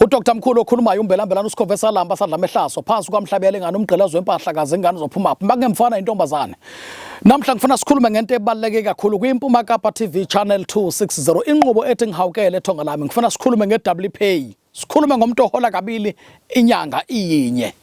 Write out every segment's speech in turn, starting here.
UDr Mkhulu okhulumayo umbelambelana uSikhove salamba sadla amehlaso phansi kwamhlabele ngani umgqilazo wempahla kaze ingane uzophuma phi makungemfana intombazane Namhla ngifuna sikhulume ngento ebaluleke kakhulu kwiMpuma Kapa TV Channel 260 inqubo ethi ngihawukele ethonga lami ngifuna sikhulume ngeWPay sikhulume ngomuntu ohola kabili inyanga iyinye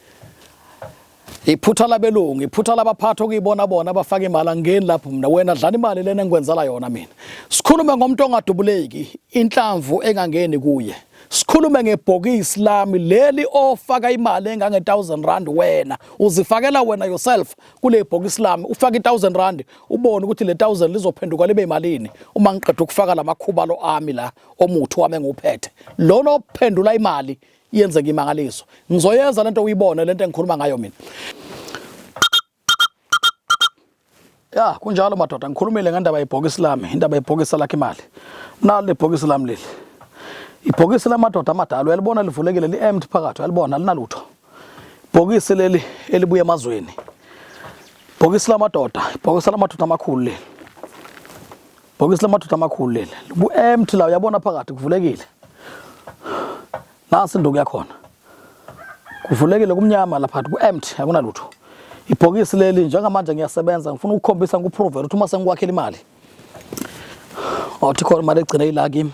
Iphutha labelungu, iphutha labaphathi okuyibona bona abafaka imali angeni lapho mina wena dlani imali lena engikwenzela yona mina. Sikhulume ngomuntu ongadubuleki, inhlamvu engangeni kuye. Sikhulume ngebhokisi lami leli ofaka imali engange 1000 rand wena uzifakela wena yourself kule bhokisi lami ufaka i 1000 rand ubone ukuthi le 1000 lizophenduka libe imalini uma ngiqeda ukufaka lamakhuba lo ami la omuthi wami enguphethe lona ophendula imali yenze ngimangaliso ngizoyenza lento uyibone lento engikhuluma ngayo mina ya kunjalo madoda ngikhulumile ngendaba yebhokisi lami indaba yebhokisi lakhe imali nalo lebhokisi lami leli ibhokisi lamadoda amadala uyalibona livulekile li-empty phakathi uyalibona linalutho ibhokisi leli elibuya emazweni ibhokisi lamadoda ibhokisi lamadoda amakhulu leli Bhokisi lamadoda amakhulu leli. Ku empty la uyabona phakathi kuvulekile. Nasi induku yakhona. Kuvulekile kumnyama lapha ku empty akunalutho. Ibhokisi leli njengamanje ngiyasebenza ngifuna ukukhombisa ngikuprove ukuthi uma sengikwakhela imali. Othi khona imali egcine ila kimi.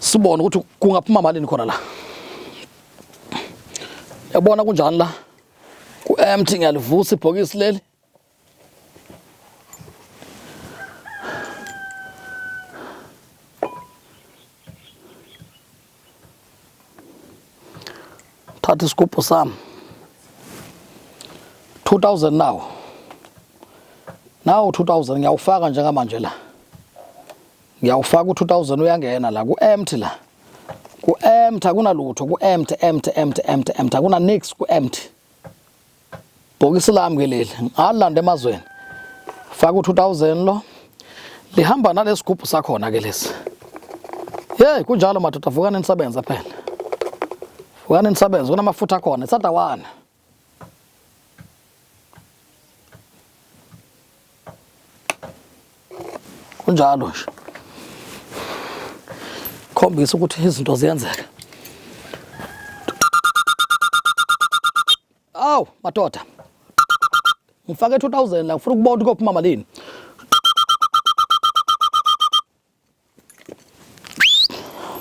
sibone ukuthi kungaphuma malini khona la yabona kunjani la ku-empty ngiyalivusa ibhokisi leli Thatha isigubhu sami 2000 nawo nawo 2000 ngiyawufaka njengamanje la ngiyawufaka u2000 uyangena la ku empty la ku empty akunalutho ku empty empty empty empty empty akuna nix ku empty bhokisi lami ke leli ngalanda emazweni faka u2000 lo lihamba nalesigubhu sakhona ke lesi hey kunjalo madoda vukani nisebenza phela vukani nisebenza kunamafutha khona isada wana kunjalo nje khombisa ukuthi izinto ziyenzeka Awu madoda. Ngifake 2000 la ngifuna ukubona ukuthi kophuma malini.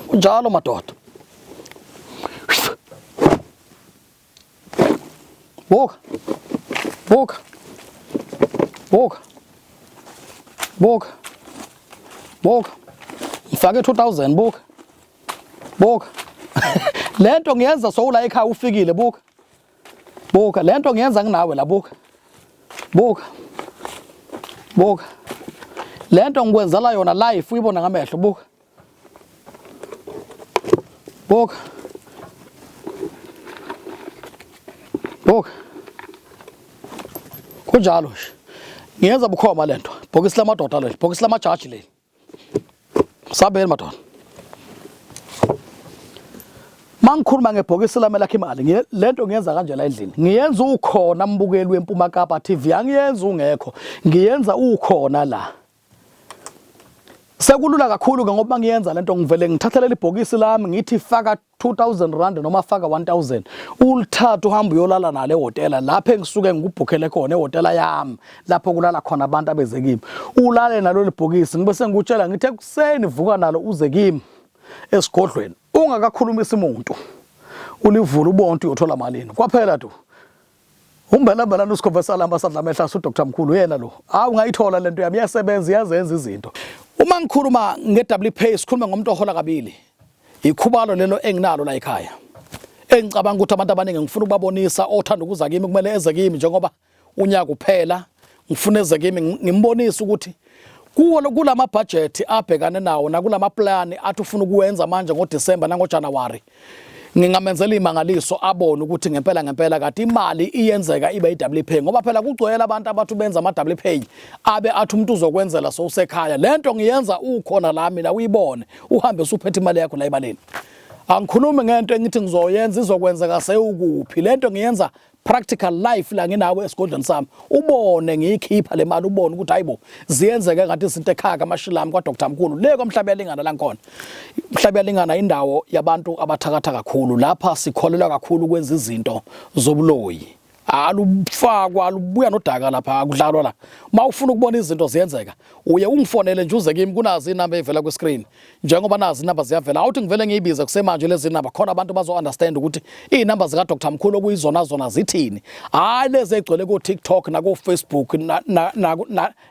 Unjalo madoda. Buka. Buka. Buka. Buka. Buka. Ngifake 2000 buka. buka lento ngiyenza sowula ekhaya ufikile buka buka lento ngiyenza nginawe la buka buka buka lento ngikwenzela yona life uyibona ngamehlo buka buka buka kunjalo nje ngiyenza bukhoma lento bhokisi lamadoda leli bhokisi lamajaji leli sabeni madoda mangikhuluma ngebhokisi lami lakhe imali lento ngiyenza kanje la endlini ngiyenza ukhona mbukeli wempuma kapa TV angiyenza ungekho ngiyenza ukhona la sekulula kakhulu ke ngoba ngiyenza lento ngivele ngithathelele ibhokisi lami ngithi faka 2000 rand noma faka 1000 ulithatha uhamba uyolala nale hotela lapho engisuke ngikubhukhele khona ehotela yami lapho kulala khona abantu abeze kimi ulale nalo libhokisi ngibe sengikutshela ngithe kuseni vuka nalo uze kimi esigodlweni ungakakhulumisi umuntu ulivula ubonke uyothola malini kwaphela tu Umbalambala lusikhova salamba sadla amehla asu Dr Mkhulu uyena lo. Hawu ngayithola lento yami iyasebenza iyazenza izinto. Uma ngikhuluma ngeWPay sikhuluma ngomuntu ohola kabili. Ikhubalo lelo enginalo la ekhaya. Engicabanga ukuthi abantu abaningi ngifuna ukubabonisa othanda ukuza kimi kumele eze kimi njengoba unyaka uphela ngifuna eze kimi ngimbonise ukuthi kuwo kulama budget abhekane nawo nakulama plan athi ufuna ukuwenza manje ngoDecember nangoJanuary ngingamenzela imangaliso abone ukuthi ngempela ngempela kade imali iyenzeka ibe i-double pay ngoba phela kugcwele abantu abathi benza ama-double pay abe athi umuntu uzokwenzela sowusekhaya le nto ngiyenza ukhona la mina uyibone uhambe usuphethe imali yakho la ebaleni angikhulumi ngento engithi ngizoyenza izokwenzeka sewukuphi le nto ngiyenza practical life la nginawo esigodlweni sami ubone ngiyikhipha le mali ubone ukuthi hayibo ziyenzeka ngathi izinto ekhaya kamashilami kwa Dr Mkhulu le kwamhlaba yalingana la ngikhona mhlaba yalingana indawo yabantu abathakatha kakhulu lapha sikholelwa kakhulu ukwenza izinto zobuloyi alufakwa lubuya nodaka lapha akudlalwa la mawufuna ukubona izinto ziyenzeka uye ungifonele nje uze kimi kunazi inamba evela ku screen njengoba nazi inamba ziyavela awuthi ngivele ngiyibize kusemanje lezi namba khona abantu bazo-understand ukuthi iy'namba zikadr mkhulu okuyizona zona zithini hhayi lezi egcwele ko-tiktok nako-facebook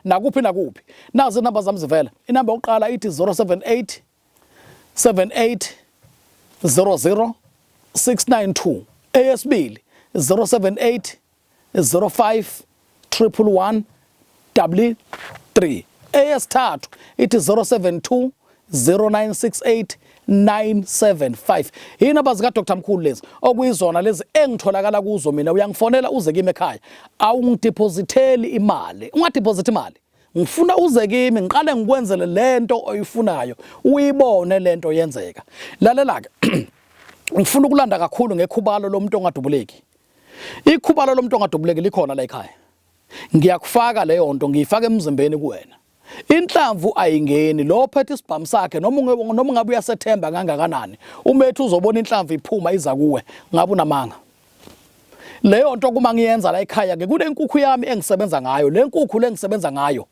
nakuphi nakuphi nazi inamba zami zivela inamba yokuqala ithi 078 78 00 692 eyesibili 078 05 111 3 eyesithathu ithi 072 0968 975 yinamba zikadr mkhulu lezi okuyizona lezi engitholakala kuzo mina uyangifonela uze kimi ekhaya awungidiphozitheli imali ungadiphozithi imali ngifuna uze kimi ngiqale ngikwenzele lento oyifunayo uyibone lento yenzeka lalela-ke ngifuna ukulanda kakhulu ngekhubalo lomuntu ongadubuleki Ikhubalo lomntu ongadubuleki likhona la ekhaya. Ngiyakufaka leyo nto ngiyifaka emzimbeni kuwena. Inhlamvu ayingeni lo ophethe isibhamu sakhe noma noma ungabe uyasethemba kangakanani uma ethi uzobona inhlamvu iphuma iza kuwe ngabe unamanga leyo nto kuma ngiyenza la ekhaya ke kunenkukhu yami engisebenza ngayo le nkukhu lengisebenza ngayo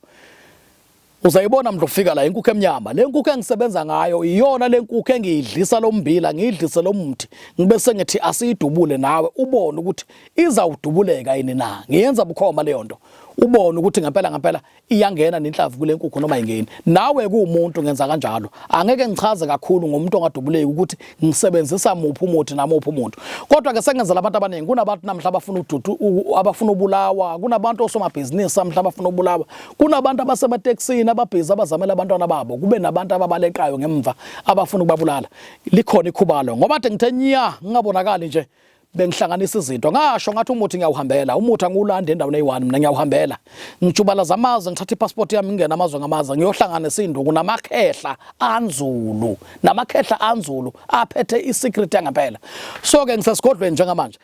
Uzayibona mdla ufika la inkukhu emnyama. Le nkukhu engisebenza ngayo iyona le nkukhu engiyidlisa lo mbila, ngiyidlise lo mthi. Ngibe sengithi asiyidubule nawe ubone ukuthi izawudubuleka yini na. Ngiyenza bukhoma leyo nto. Ubone ukuthi ngempela ngempela iyangena nenhlavu kule nkukhu noma ingeni. Nawe kuwumuntu ngenza kanjalo. Angeke ngichaze kakhulu ngomuntu ongadubuleki ukuthi ngisebenzisa muphi umuthi namuphi umuntu kodwa ke sengenzela abantu abaningi kunabantu namhla abafuna ududu abafuna ubulawa kunabantu osomabhizinisi namhla abafuna ubulawa kunabantu abasemateksini ababhizi abazamela abantwana babo kube nabantu ababalekayo ngemva abafuna ukubabulala likhona ikhubalo ngoba athi ngithe nya ngingabonakali nje bengihlanganisa izinto ngasho ngathi umuthi ngiyawuhambela umuthi angiwulandi endaweni eyi-1 mina ngiyawuhambela ngijubalaza amazwe ngithatha ipassport yami ngingena amazwe ngamazwe ngiyohlangana isinduku namakhehla anzulu namakhehla anzulu aphethe i-secret yangempela so-ke ngisesigodlweni njengamanje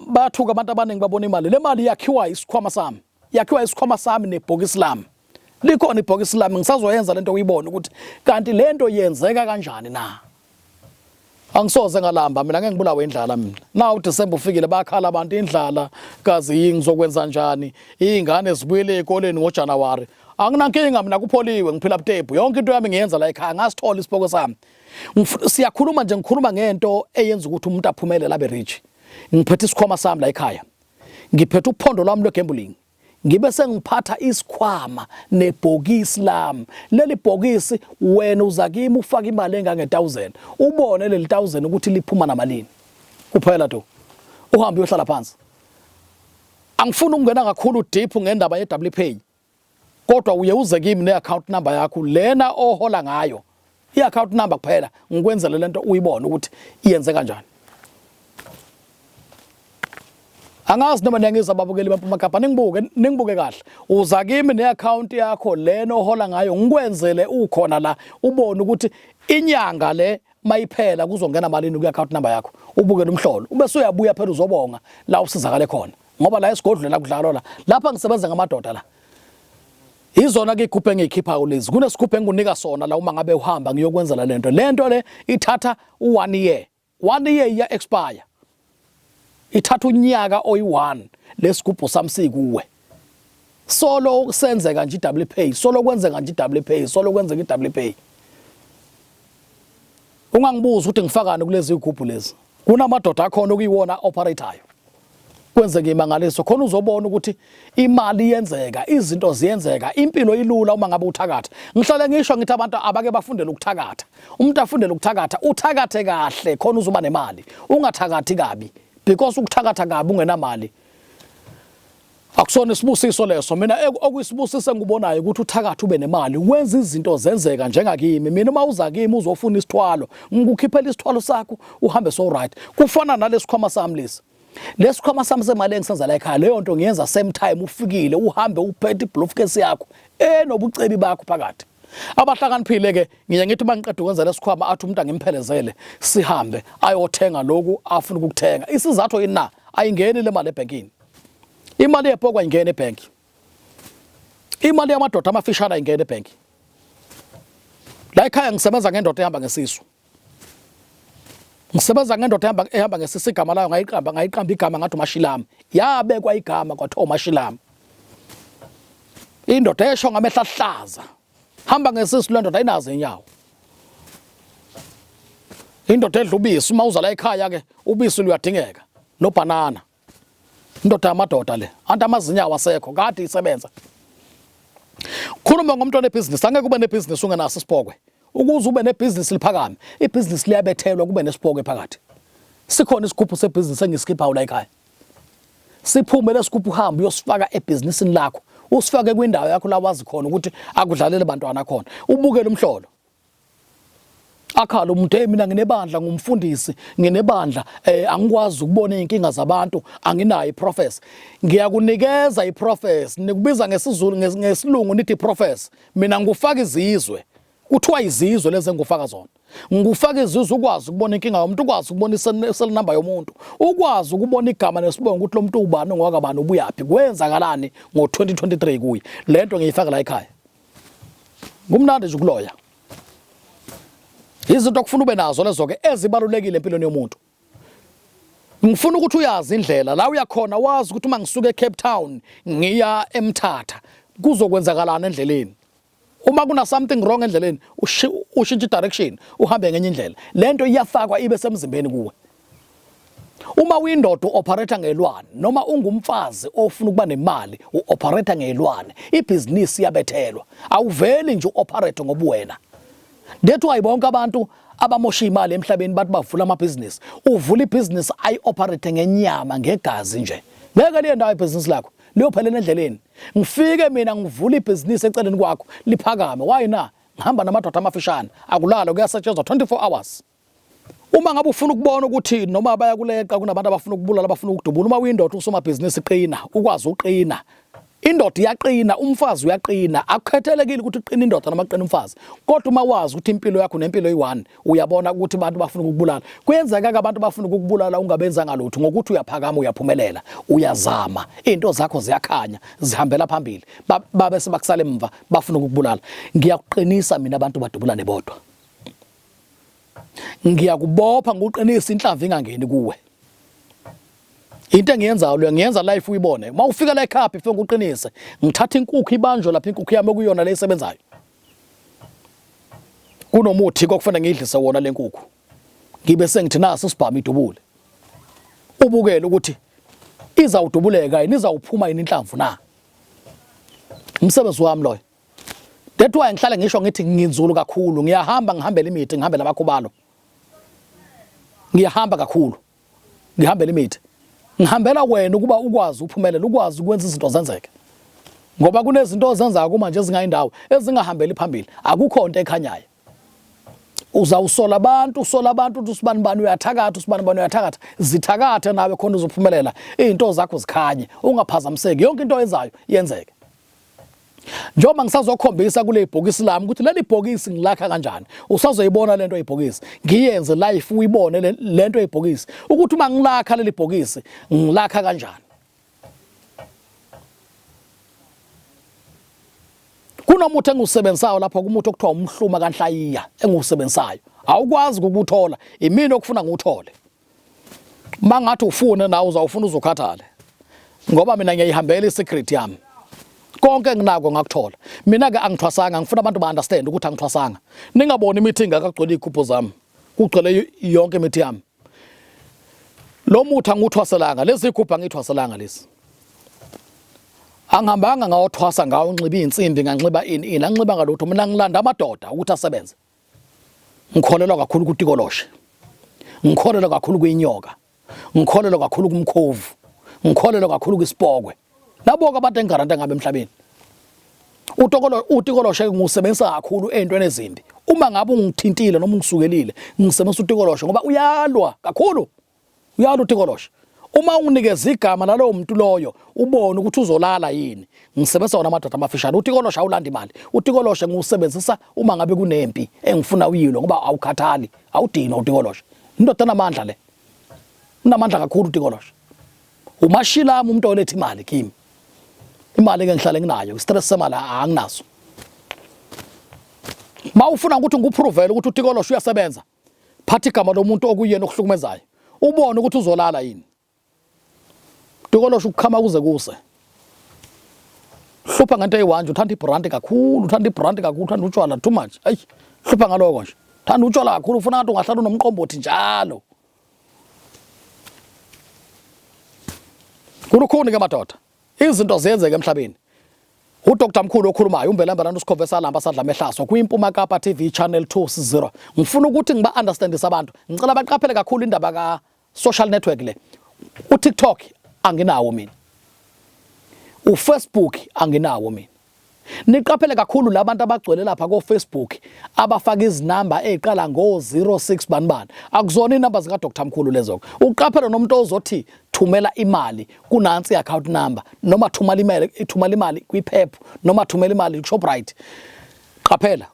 bathuka abantu abaningi babona imali le mali yakhiwa isikhwama sami yakhiwa isikhwama sami nebhokisi lami likhona ibhokisi lami ngisazoyenza lento uyibone ukuthi kanti lento yenzeka kanjani na angisoze ngalamba mina ngeke ngibulawe indlala mina na uDecember ufikile bakhala abantu indlala kazi yini ngizokwenza njani izingane zibuyele ezikoleni ngoJanuary anginankinga mina kupholiwe ngiphila butebu yonke into yami ngiyenza la ekhaya ngasithola isiboko sami siyakhuluma nje ngikhuluma ngento eyenza ukuthi umuntu aphumelele abe rich ngiphethe isikhwama sami la ekhaya ngiphethe uphondo lwami lwegambling ngibe sengiphatha isikhwama nebhokisi lami leli bhokisi wena uza kimi ufake imali engange 1000 ubone leli 1000 ukuthi liphuma namalini kuphela do uhambe uyohlala phansi angifuni ukungena kakhulu deep ngendaba ye WPA kodwa uye uze kimi ne-account number yakho lena ohola ngayo i-account number kuphela ngikwenzele lento uyibone ukuthi iyenze kanjani angazi noma niyangiza ababukeli bampumagabha ningibuke ningibuke kahle uza kimi ne-account yakho lena ohola ngayo ngikwenzele ukhona la ubone ukuthi inyanga le mayiphela kuzongena malini kwi-account number yakho ubuke lo mhlolo ube suyabuya phela uzobonga la usizakale khona ngoba la esigodlweni la kudlalwa la lapha ngisebenza ngamadoda la izona ke ikhuphe engiyikhipha kulezi kunesikhuphe engikunika sona la uma ngabe uhamba ngiyokwenzela lento lento le ithatha u1 year 1 year iya expire ithatha unyaka oyi1 lesigubhu samsikuwe solo kusenzeka nje iDouble pay solo kwenzeka nje iDouble pay solo kwenzeka iDouble pay ungangibuza ukuthi ngifakani kulezi igubhu lezi kunamadoda akhona okuyiwona operator kwenzeke imangaliso khona uzobona ukuthi imali iyenzeka izinto ziyenzeka impilo ilula uma ngabe uthakatha ngihlale ngisho ngithi abantu abake bafundele ukuthakatha umuntu afundele ukuthakatha uthakathe kahle khona uzoba nemali ungathakathi kabi because ukuthakatha kabi ungenamali Akusona isibusiso leso mina okuyisibusise ngikubonayo ukuthi uthakathi ube nemali wenza izinto zenzeka njengakimi mina uma uza kimi uzofuna isithwalo ngikukhiphela isithwalo sakho uhambe so right kufana nalesikhwama sami lesi lesikhwama sami semali engisenza la ekhaya leyo nto ngiyenza same time ufikile uhambe uphethe ibloofcase yakho enobucebi bakho phakathi abahlakaniphile ke ngiye ngithi uma ngiqeda ukwenza lesikhwama athi umuntu angimphelezele sihambe ayothenga lokhu afuna ukukuthenga isizathu yini na ayingeni le mali ebhenkini imali yepokwa ingena ebank imali yamadoda amafishana ingena ebank la ekhaya ngisebenza ngendoda ehamba ngesisu ngisebenza ngendoda ehamba ehamba ngesisi igama layo ngayiqamba ngayiqamba igama ngathi umashilama yabekwa igama kwathiwa umashilama indoda esho ngamehla ahlaza hamba ngesisu le ndoda ayinazo inyawo indoda edla ubisi uma uza la ekhaya ke ubisi luyadingeka nobhanana indoda yamadoda le anti amazinya awasekho kade isebenza khuluma ngomntwana ebhizinisi angeke ube nebhizinisi ungenaso isipokwe ukuze ube nebhizinisi liphakame ibhizinisi liyabethelwa kube nesipokwe phakathi sikhona isigubhu sebhizinisi engisikhiphayo la ekhaya siphume lesigubhu uhambe uyosifaka ebhizinisini lakho usifake kwindawo yakho la wazi khona ukuthi akudlalele bantwana khona ubukele umhlolo akhala umuntu hey mina nginebandla ngumfundisi nginebandla eh angikwazi ukubona izinkinga zabantu anginayo iprofess ngiyakunikeza iprofess nikubiza ngesizulu ngesilungu nithi iprofess mina ngikufaka izizwe kuthiwa izizwe lezi engufaka zona ngikufaka izizwe ukwazi ukubona inkinga yomuntu ukwazi ukubona iseli number yomuntu ukwazi ukubona igama nesibongo ukuthi lo muntu ubani ongwakabani ubuyaphi kwenzakalani ngo-2023 kuye le nto ngiyifaka la ekhaya kumnandi nje ukuloya izinto okufuna ube nazo lezo ke ezibalulekile empilweni yomuntu ngifuna ukuthi uyazi indlela la uyakhona wazi ukuthi uma ngisuka eCape Town ngiya eMthatha kuzokwenzakalana endleleni uma kuna something wrong endleleni ushintshe direction uhambe ngenye indlela lento iyafakwa ibe semzimbeni kuwe Uma uyindoda uoperator ngelwane noma ungumfazi ofuna ukuba nemali uoperator ngelwane ibhizinisi iyabethelwa awuveli nje uoperate ngobuwena That's why bonke abantu abamosha imali emhlabeni bathi bavula amabhizinisi uvula ibhizinisi ayi operate ngenyama ngegazi nje ngeke liye ndawo ibhizinisi lakho liyophelela endleleni ngifike mina ngivula ibhizinisi eceleni kwakho liphakame why na ngihamba namadoda amafishane akulala kuyasetshenzwa 24 hours Uma ngabe ufuna ukubona ukuthi noma bayakuleqa kunabantu abafuna ukubulala abafuna ukudubula uma uyindoda usomabhizinisi qina ukwazi uqina indoda iyaqina umfazi uyaqina akukhethelekile ukuthi uqina indoda noma uqina umfazi kodwa uma wazi ukuthi impilo yakho nempilo eyi-one uyabona ukuthi abantu bafuna ukukubulala kuyenzeka-ke abantu bafuna ukukubulala ungabenzanga lutho ngokuthi uyaphakama uyaphumelela uyazama iy'nto zakho ziyakhanya zihambela phambili babe sebakusala emva bafuna ukukubulala ngiyakuqinisa mina abantu badubulane bodwa ngiyakubopha nguqinisa inhlava ingangeni kuwe into engiyenzayo leyo ngiyenza life uyibone uma ufika la ekhaya before ngiqinise ngithatha inkukhu ibanjwe lapha inkukhu yami okuyona le isebenzayo kunomuthi kokufanele ngiyidlise wona le nkukhu ngibe sengithi naso sibhama idubule ubukele ukuthi izawudubuleka yini izawuphuma yini inhlamvu na umsebenzi wami loyo That's why ngihlale ngisho ngithi nginzulu kakhulu ngiyahamba ngihambela imithi ngihambela abakhubalo ngiyahamba kakhulu ngihambela imithi ngihambela wena ukuba ukwazi uphumelele ukwazi ukwenza izinto zenzeke ngoba kunezinto ozenzayo kuma nje ezingayindawo ezingahambeli phambili akukho nto ekhanyayo uzawusola abantu usola abantu ukuthi usibani bani uyathakatha usibani bani uyathakatha zithakathe nawe khona uzophumelela izinto zakho zikhanye ungaphazamiseki yonke into oyenzayo yenzeke njengoba ngisazokhombisa kule bhokisi lami ukuthi leli bhokisi ngilakha kanjani usazoyibona lento yebhokisi ngiyenze life uyibone lento yebhokisi ukuthi uma ngilakha leli bhokisi ngilakha kanjani kunomuthi engiwusebenzisayo lapha kumuthi okuthiwa umhluma kanhlayiya engiwusebenzisayo awukwazi ukuthola imini okufuna ngiwuthole mangathi ufune nawe uzawufuna uzukhathale ngoba mina ngiyayihambela i-secret yami konke enginako ngakuthola mina-ke angithwasanga ngifuna abantu ba-understand ukuthi angithwasanga ningaboni imithi ingakagcwele iy'gubhu zami kugcwele yonke imithi yami lo muthi angiwuthwaselanga lezi zigubhu angiyithwaselanga lezi angihambanga ngawothwasa ngawo nxiba iy'nsimbi nganxiba ini ini anginxibanga lutho mina ngilanda amadoda ukuthi asebenze ngikholelwa kakhulu kutikoloshe ngikholelwa kakhulu kwinyoka ngikholelwa kakhulu kumkhovu ngikholelwa kakhulu kwisipokwe naboke abantu engigaranta ngabe emhlabeni utokolo utikoloshe ngiwusebenzisa kakhulu ezintweni ezimbi uma ngabe ungithintile noma ungisukelile ngisebenzisa utikoloshe ngoba uyalwa kakhulu Uyalo uThingoloshe. Uma unginikeza igama lalowo muntu loyo ubone ukuthi uzolala yini. Ngisebenzisa wona amadoda amafishane. UThingoloshe awulanda imali. UThingoloshe ngiwusebenzisa uma ngabe kunempi engifuna uyilwe ngoba awukhathali. Awudinwa uThingoloshe. Indoda enamandla le. Unamandla kakhulu uThingoloshe. Umashilami umuntu oletha imali kimi. Imali ke ngihlale nginayo. Stress semali anginaso. Mawufuna ukuthi ngikuprove ukuthi uThingoloshe uyasebenza. phatha igama lomuntu okuyena okuhlukumezayo ubone ukuthi uzolala yini dukolosho ukukhama kuze kuse hlupha ngento eyiwanje uthanda ibranti kakhulu uthanda ibranti kakhulu uthanda utshwala too much ayi hlupha ngaloko nje thanda utshwala kakhulu ufuna ngathi ungahlala unomqombothi njalo kulukhuni ke madoda Izinto ziyenzeka emhlabeni. UDr Mkhulu okhulumayo uMbelambelantu uSikhove Salamba sadla mehlaso kwiMpuma Kapa TV Channel 260. Ngifuna ukuthi ngiba understandise abantu. Ngicela baqaphele kakhulu indaba ka social network le. UTikTok anginawo mina. UFacebook anginawo mina. Niqaphele kakhulu labantu abagcwele lapha ko Facebook abafaka izinamba eziqala ngo 06 banibani. Akuzona inamba zika Dr Mkhulu lezo. Uqaphele nomuntu ozothi thumela imali kunansi account number noma thumela imali ithumela imali kwiphephu noma thumela imali kuShoprite. Qaphela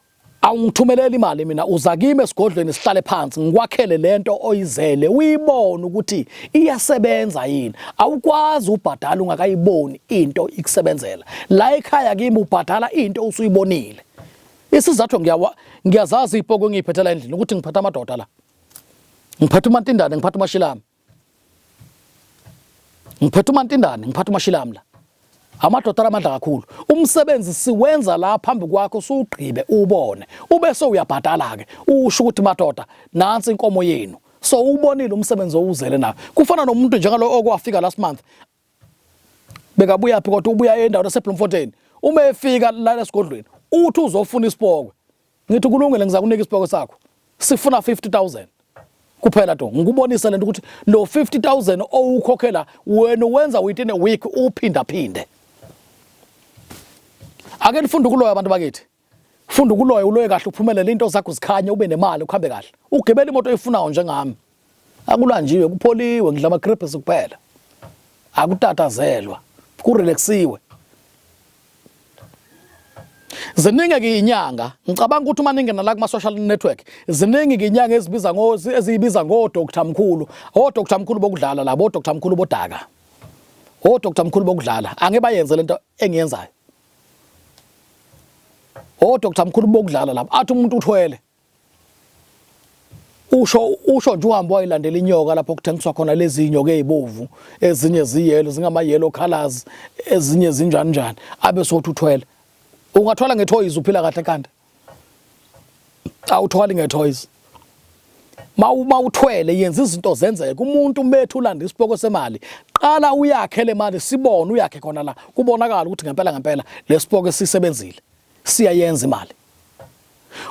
awungithumeleli imali mina uza kimi esigodlweni sihlale phansi ngikwakhele lento oyizele uyibone ukuthi iyasebenza yini awukwazi ubhadala ungakayiboni into ikusebenzela la ekhaya kimi ubhadala into usuyibonile isizathu ngiyawa ngiyazazi ipoko engiyiphethela endlini ukuthi ngiphatha amadoda la ngiphatha umantindane ngiphatha umashilami ngiphethe umantindane ngiphatha umashilamu la amadoda alamandla kakhulu umsebenzi siwenza la phambi kwakho suwugqibe ubone ubese uyabhadala ke usho ukuthi madoda nansi inkomo yenu so ubonile umsebenzi owuzele nayo kufana nomuntu njengalo okwafika last month bekabuya phi kodwa ubuya endaweni yaseBloemfontein uma efika lana esigodlweni uthi uzofuna isipokwe ngithi kulungile ngizakunika isipokwe sakho sifuna 50000 kuphela to ngikubonisa lento ukuthi lo 50000 owukhokhela wena wenza within a week uphinda phinde ake nifunde ukuloya abantu bakithi Funda ukuloya uloye kahle uphumelele into zakho zikhanye ube nemali ukuhambe kahle. Ugibela imoto oyifunayo njengami. Akulanjiwe kupholiwe ngidla ama crepes kuphela. Akutatazelwa. Kurelaxiwe. Ziningi ke inyanga ngicabanga ukuthi uma ningena la kuma social network ziningi ke inyanga ezibiza ngo eziyibiza ngo Dr Mkhulu o Dr Mkhulu bokudlala labo Dr Mkhulu bodaka o Dr Mkhulu bokudlala angibayenze lento engiyenzayo Oh Dr Mkhulu bokudlala lapha athi umuntu uthwele usho usho nje uhamba wayilandela inyoka lapho kuthengiswa khona lezi nyoka ezibovu ezinye ziyelo zingama yellow colors ezinye zinjani njani abe sothi uthwele ungathwala ngethoyizi uphila kahle kanti awuthwali nge-toys uma uthwele yenza izinto zenzeke umuntu umethu ulanda isipoko semali qala uyakhe le mali sibone uyakhe khona la kubonakala ukuthi ngempela ngempela lesipoko sisebenzile siyayenza imali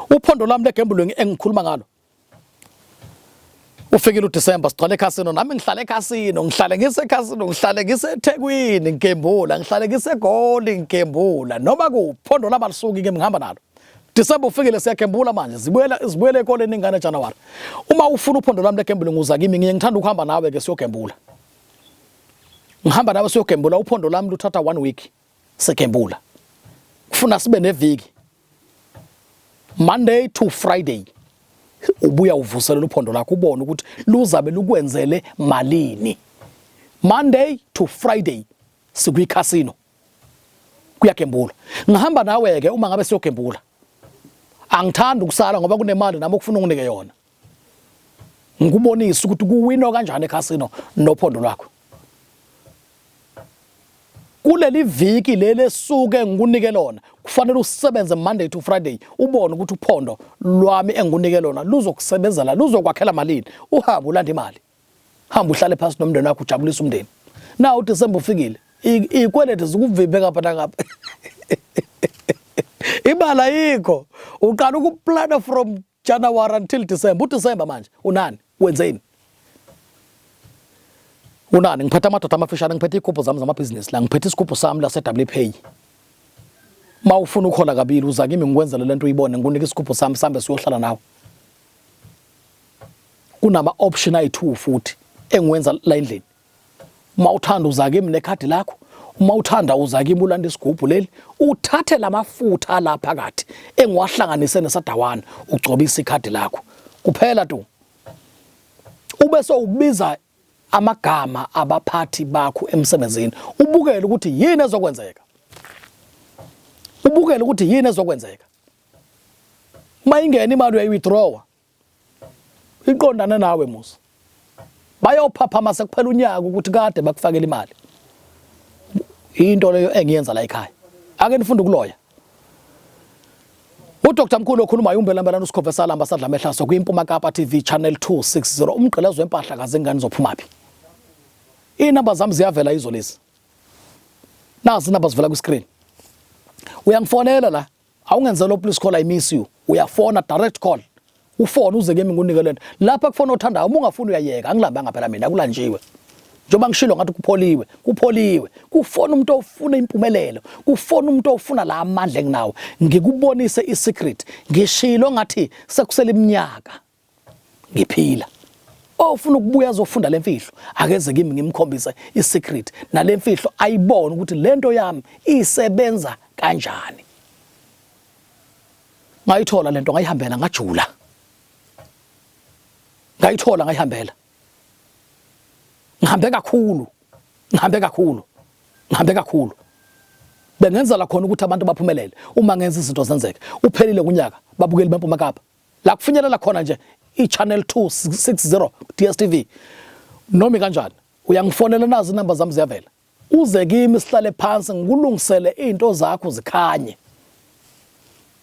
uphondo lami legembulweni engikhuluma ngalo Ufikile uDisemba sigcwale ekhasino nami ngihlale ekhasino ngihlale ngisekhasino ngihlale ngiseThekwini ngigembula ngihlale ngiseGoli ngigembula noma kuphondo labalisuki ke ngihamba nalo Disemba ufikile siyagembula manje zibuyela zibuyela ekoleni ingane January uma ufuna uphondo lami legembula nguza kimi ngiye ngithanda ukuhamba nawe ke siyogembula ngihamba nawe siyogembula uphondo lami luthatha one week sigembula kufuna sibe neviki Monday to Friday ubuya uvuselela uphondo lakho ubone ukuthi luzabe lukwenzele malini Monday to Friday sikwi casino kuyagembula ngihamba nawe ke uma ngabe siyogembula angithandi ukusala ngoba kunemali nami okufuna unginike yona ngikubonise ukuthi kuwinwa kanjani ekhasino nophondo lwakho kuleli viki leli esuke ngikunike lona kufanele usebenze monday to friday ubone ukuthi uphondo lwami engikunike lona luzokusebenzela luzokwakhela malini uhambe ulanda imali hamba uhlale phansi nomndeni wakho ujabulise umndeni na udisemba ufikile iy'kweleti zikuvimbe ngapha nangapha imali ayikho uqala ukuplana from January until December. UDecember manje unani? Wenzeni? Unani? Ngiphethe amadoda amafishane, ngiphethe ikhupho zami zamabhizinisi la, ngiphethe isikhupho sami la se-WPay. Uma ufuna ukhola kabili uza kimi ngikwenzele lento uyibone, ngikunika isikhupho sami sambe siyohlala nawe. Kunama option ayi-2 futhi engiwenza la endlini. uma uthanda uza kimi nekhadi lakho uma uthanda uza kimi ulanda isigubhu leli uthathe lamafutha la phakathi engiwahlanganise nesadawana ugcobisa ikhadi lakho kuphela tu ube sowubiza amagama abaphathi bakho emsebenzini ubukele ukuthi yini ezokwenzeka ubukele ukuthi yini ezokwenzeka mayingena imali uyayi-withdrawa iqondane nawe musa bayophaphama sekuphela unyaka ukuthi kade bakufakela imali into leyo engiyenza la ekhaya ake nifunde ukuloya uDr Mkhulu okhuluma umbelambelana uSikhove salamba sadla mehlaso kwiMpuma Kapa TV channel 260 umgqelezo wempahla kaze ngani zophuma phi inamba zami ziyavela izo lezi nazi inamba zivela kwi screen uyangifonela la awungenzela please call i miss you uyafona direct call ufone uze kimi ngunike lento lapha kufona othandayo uma ungafuni uyayeka angilambanga phela mina kulanjiwe njengoba ngishilo ngathi kupholiwe kupholiwe kufona umuntu ofuna impumelelo kufona umuntu ofuna la amandla enginawo ngikubonise isecret ngishilo ngathi sekusela iminyaka ngiphila ofuna ukubuya azofunda lemfihlo akeze kimi ngimkhombise isecret nalemfihlo ayibone ukuthi lento yami isebenza kanjani ngayithola lento ngayihambela ngajula ngayithola ngayihambela ngihambe kakhulu ngihambe kakhulu ngihambe kakhulu bengenza la khona ukuthi abantu baphumelele uma ngenza izinto zenzeke uphelile kunyaka babukeli bempuma kapa la kufinyelela khona nje i-channel 260 DSTV nomi kanjani uyangifonela nazi inamba zami ziyavela uze kimi sihlale phansi ngikulungisele izinto zakho zikhanye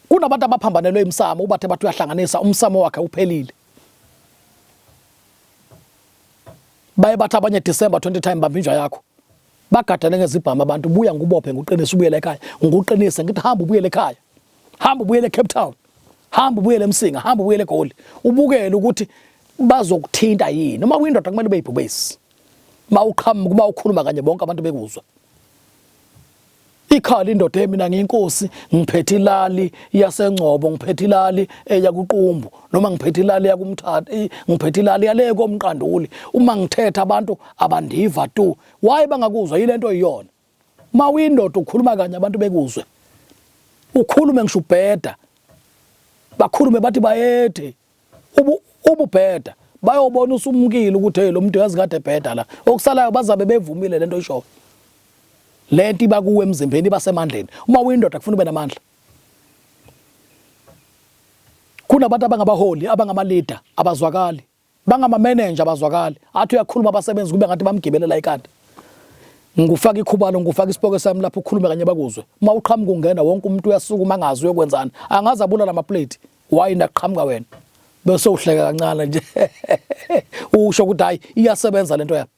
kunabantu abaphambanelwe imsamo ubathe bathi uyahlanganisa umsamo wakhe uphelile baye bathi abanye December 20 time bamba inja yakho bagadane ngezibhamu abantu buya ngubophe nguqinise ubuyele ekhaya nguqinise ngithi hamba ubuyele ekhaya hamba ubuyele eCape Town hamba ubuyele eMsinga hamba ubuyele eGoli ubukele ukuthi bazokuthinta yini uma uyindoda kumele beyibhubesi uma uqhamuka uma ukhuluma kanye bonke abantu bekuzwa ikhala indoda yemina ngiyinkosi ngiphethe ilali yasengcobo ngiphethe ilali eya kuqumbu noma ngiphethe ilali yakumthatha ngiphethe ilali yale komqanduli uma ngithetha abantu abandiva tu why bangakuzwa yilento iyona uma uyindoda ukhuluma kanye abantu bekuzwe ukhulume ngisho ubheda bakhulume bathi bayethe ubu ububheda bayobona usumukile ukuthi hey lo muntu yazi kade ebheda la okusalayo bazabe bevumile lento ishoyo lento iba kuwe emzimbeni iba semandleni uma uyindoda kufuna ube namandla kunabantu abangabaholi abangama leader abazwakali bangamamenenja abazwakali athi uyakhuluma abasebenzi kube ngathi bamgibelela ikhanda ngikufaka ikhubalo ngikufaka isipoke sami lapho ukhulume kanye bakuzwe uma uqhamuka ungena wonke umuntu uyasukuma angazi uyokwenzani angazi abulala amaplate why ndaqhamuka wena bese uhleka kancane nje usho ukuthi hayi iyasebenza lento yakho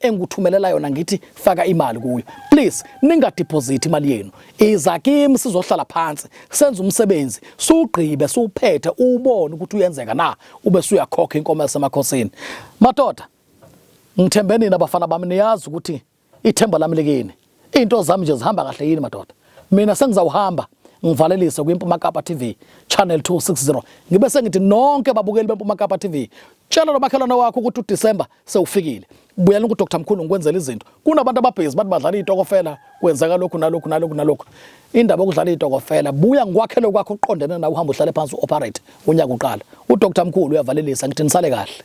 engikuthumelela yona ngithi faka imali kuyo please ningadeposit imali yenu iza kimi sizohlala phansi senze umsebenzi sugqibe suphethe ubone ukuthi uyenzeka na ube suyakhokha inkomo yasemakhosini madoda ngithembe nina bafana bami niyazi ukuthi ithemba lami likini Into zami nje zihamba kahle yini madoda? Mina sengizawuhamba ngivalelise kwiMpuma Kapa TV channel 260 ngibe sengithi nonke babukeli beMpuma Kapa TV tshela nomakhelwane wakho ukuthi uDecember sewufikile buyela ku Dr Mkhulu ngikwenzela izinto kunabantu ababhizi bathi badlala izitokofela kwenzeka lokhu nalokhu nalokhu nalokhu indaba yokudlala izitokofela buya ngikwakhele kwakho uqondene nawe uhamba uhlale phansi uoperate unyaka uqala uDr Mkhulu uyavalelisa ngithi nisale kahle